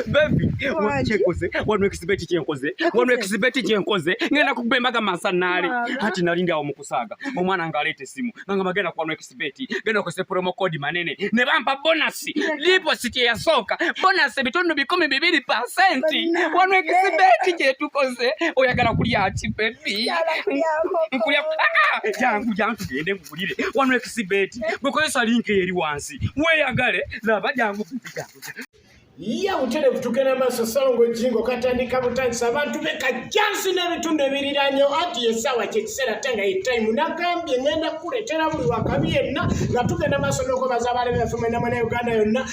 bebi kyenkoze wano ekisibeti kyenkoze wano ekisibeti kyenkoze ngenda kukuba embaga mansanaale hati nali ndi awo mu kusaaga omwana ng'aleeta essimu nanga bagenda kuwano ekisibeti genda okozesa promo code manene ne bampa bonasi lipositi eyasooka bonasi ebitundu bikumi bibiri pasenti wano ekisibeti kyetukoze oyagala kulya ki bebi nkulya ah, ah, jangu jangu tugende bakuwulire wano ekisibeti bwekozesa linka eri wansi weyagale laba jangu ye buterevu tugenda maaso salongo jingo katandika butandisa abantu be kajjansi n'ebitundu ebiriranyo ati yesaawa kyekiseera ate nga yetaimu nagambye ngenda kukuleetera buli wakabi yenna nga tugenda maaso n'okwebaza abaali baffe mwena mwena uganda yonna